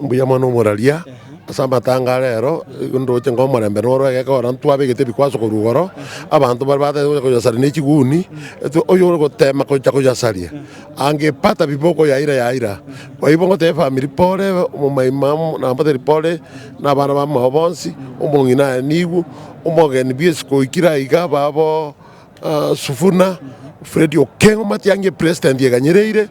Mbuya mono omoraria ase amatanga a rero, igo ndoche nkoe omorembe noro egeka ora ntwabegete ebikwaso korwa igoro, abanto bare batagete gocha koyasaria ne chiguni, ase oyo ore gotema gocha koyasaria, angepata bibe okoyaira yaira. Naboigo ngotebia efamiri pore, omomaima amo nabo tari pore, na abana bamao bonsi, omong'ina aye nigo, omogeni bwesiko oikire aiga ababoo, Sifuna, Fred Okengo, Matiang'i epresident eganyereire,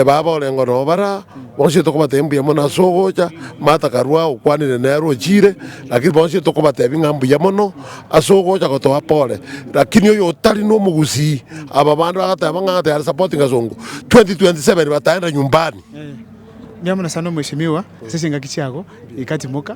baba Orengo nao bara, bonsi tokobatebia mbuya mono ase ogocha, Martha Karua okwanire nere ochire, lakini bonsi tokobatebia ng'a mbuya mono ase ogocha gotoa pole, lakini oyo otari nomogusii, aba bande bagateba ng'a they are supporting Kasongo, 2027 bataenda nyumbani. Mbuya mono sana omweshimiwa ase chingaki chiago ikatimoka.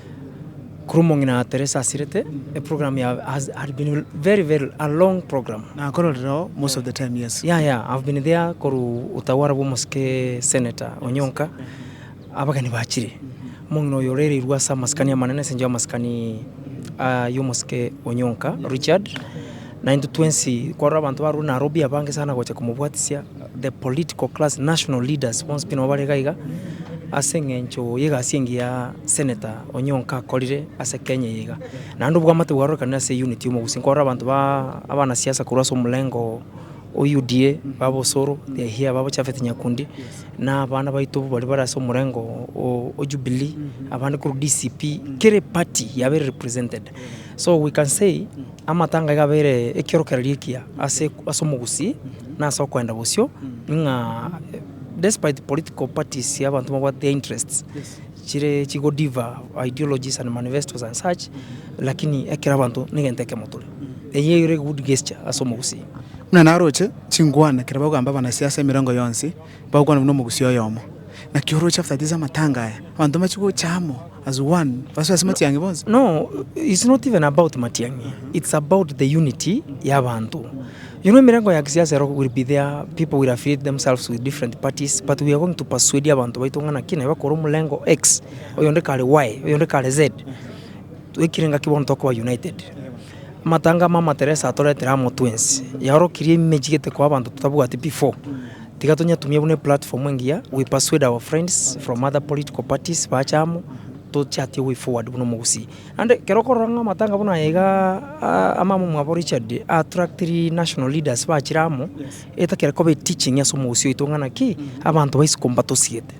Korwa omong'ina ya Teresa asirete, the program ya has had been very very a long program. Nakororereo most of the time, yes. Yeah, yeah, I've been there korwa utawara bwa omosike Senator Onyonka. Abageni bachire. Omong'ina oyo orereirwe ase amasikani amanene ase enchera amasikani ah, y'omosike Onyonka Richard. Naintwe twensi kwarora abanto barure Nairobi abange sana gocha komobwatisia The political class, national leaders, bonsi pi nabo bare iga iga ase eng'encho y'egasi engiya Senator Onyonka akorire ase Kenya eye iga. Naende obwamate bwarorekane ase unit y'omogusi, nkorora abanto ba abana siasa korwa ase omorengo o UDA, ba Bosoro, they are here, ababo Japhet Nyakundi, na abana baito baria bare ase omorengo o o Jubilee, abande korwa DCP, kera eparty yabeire represented. So we can say. Amatanga iga abeire ekiorokererio ekiya ase omogusii na ase okoenda bosio ng'a despite political parties abanto babwate their interests chire chigo differ ideologies and manifestos and such lakini ekero abanto negento ekemo tore. Eyio ere good gesture ase omogusii. Buna naroche chingwana ekero bagokamba abanasiasa emerongo yonsi. Bagokwana buna omogusii oyomo, Naki oroche after this amatanga aya? Abanto mbachie gocha amo as one, basoe ase matiang'i bonsi. No, it's not even about matiang'i, it's about the unity ya abanto. You know emerengo ya kisiasa ero will be there, people will affiliate themselves with different parties, but we are going to persuade abanto baito ng'a naki naye bakore omorengo X, oyonde kare Y, oyonde kare Z. Twekire ngaki bono tokoba united. Amatangama amateresa atoretire amo twensi, yaorokirie emechi gete koa abanto totabwati before. Tiga tonyatumie buna eplatform engiya, we persuade our friends from other political parties bache amo tochatie way forward buna omogusii. Naende ekero okorora ng'a amatanga buna aya igaa ama amo omwabo Richard a attractiri national leaders bachire amo, etakera koba eteaching ase omogusii oito ng'a naki abanto ba isiko mbatosigete.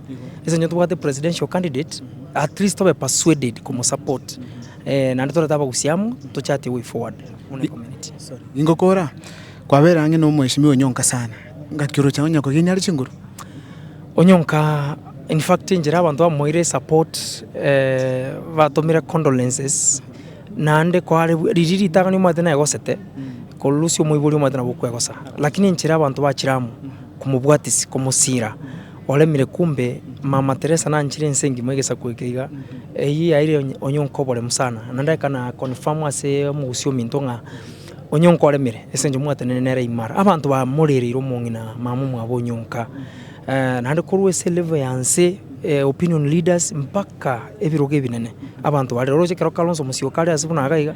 Ase eng'encho tobwate presidential candidate, atleast tobe persuaded komosupport. Naende torete abagusia amo, tochate way forward buna ecommunity. Ingokora kwabera ang'e na omweshimiwa Onyonka sana, ngakiorocha onye kogenia are chinguru. Onyonka in fact enchera abanto bamoire support batomire condolences naende kware riria ritang'ani omanyete naye gosete korusia omoibori omanyete nabo okwegosa lakini enchera abanto bachire amo komobwatisia komosira. oremire kumbe mama Teresa nanchire ense engima egesaku eke iga, eyio yaeire onye onye onkobore sana, naende ekana confirm asee omogusii ominto ng'a onye onkoremire ase eng'encho mwatenene nere imara. Abanto bamorereire omong'ina mama omwabo onye onka naende korwa ase elevel ya nse opinion leaders mpaka ebirogo ebinene abanto bare oroche ekero Kalonzo Musyoka are ase buna iga iga.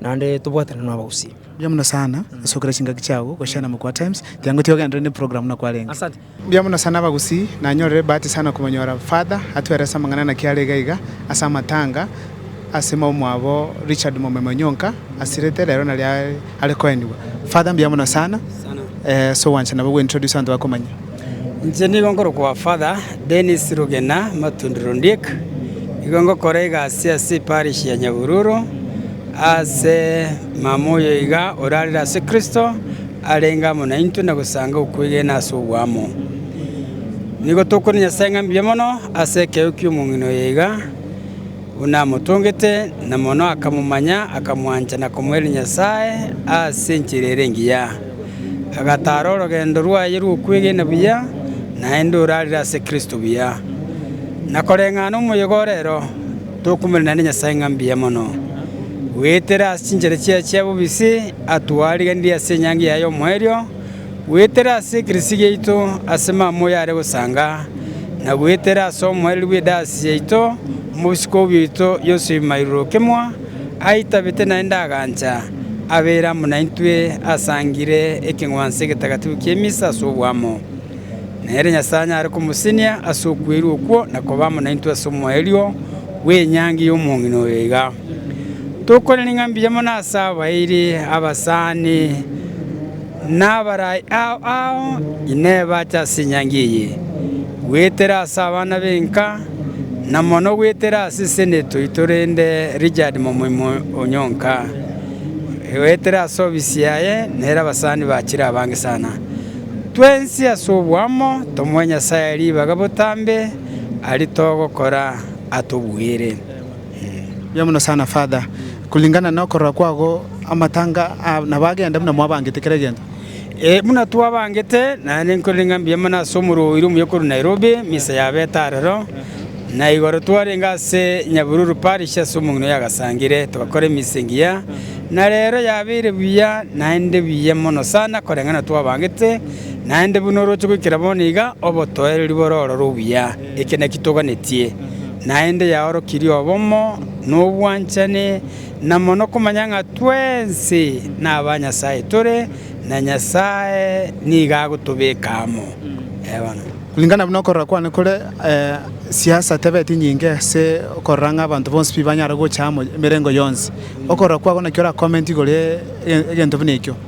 Naende tobwatane n'abagusii. Mbuya mono sana ase okera chingaki chiago gochia na Mokwa Times. Tiangotia ogenderere ne program buna kwarenge. Mbuya mono sana abagusii, nanyorire ebahati sana komonyora Father atwere ase amang'ana naki are iga iga ase amatanga ase maumwabo Richard Momema Onyonka asirete rero nari are koenigwa. Father mbuya mono sana ase ogwancha nabo gointroduce abanto bakomanye. Inche nigo nkorokwa Father Dennis Rugena Matundu Rondiek, nigo ngokora egasi ase eparish ya Nyahururu, ase mama oyo iga orarire ase Kristo, arenge amo naintwe na gosanga okwegena ase oboamo. Nigo tokore Nyasae ng'a mbuya mono ase ekero ki'omong'ina oyo iga, Buna amotongete, na mono akamomanya, akamwancha na komoiraneria Nyasae ase enchera ere engiya. Agataara orogendo rwaye rw'okwegena buya, naende orarire ase Kristo buya. Na koreng'ana omoyega o reero, tokumera naende Nyasae ng'a mbuya mono, goetera ase chinchera chiaye chia bobisi atwariganirie ase enyangi yaye y'omoerio, Goetera ase ekeresio giaito ase mamoyo are gosanga, na goetera ase omoerio bw'edasi yaito mobosio kobio oito yonsi oimairurwe kemwa, aitabete naende agancha, abeire amo naintwe asangire ekeng'wanso egetagatifu ki'emisa ase oboamo. Na ere Nyasae anyare komosenia ase okweirwa okwo na koba amo naintwe ase omoerio bw'enyangi y'omong'ina oyoiga. Tokorende ng'a mbuya mono ase abairi, abasani, na abarai ao ao Inee bache ase enyangi eye, goetera ase abana b'enka, na mono goetera ase Senate oito rende Richard Momoimo Onyonka, goetera ase obisi yaye nere abasani bachire abange sana. Twensi ase oboamo tomoe Nyasaye ribaga botambe, aria togokora atobuere. Mbuya mono sana Father, kulingana nokorora kwago amatanga aa nabo agenda buna mwabangete kera egento. Ee, buna twabangete, naende nkorire ng'a mbuya mono ase omorwa oire omuya korwa Nairobi, misa yabete aroro, na igoro twarenge ase Nyabululu Parish ase omong'ina oyo agasangire, togakora emisa engiya, na rero yabeire buya, naende buya mono sana koreng'ana twabangete, naende buna oroche goikera bono iga, obotoereru bore ororo obuya, eke naki toganetie. Naende yaorokirie obomo na obwanchani, na mono komanya ng'a twensi naba Nyasae tore, na Nyasae nigo agotobeka amo. Ewana. Ringana buna okorora kwane kore, siasa tebeti nyinge ase okorora ng'a abanto bonsi pi banyare gocha amo emerengo yonsi. Okorora kwabo naki ora comment igoro egento buna ekio.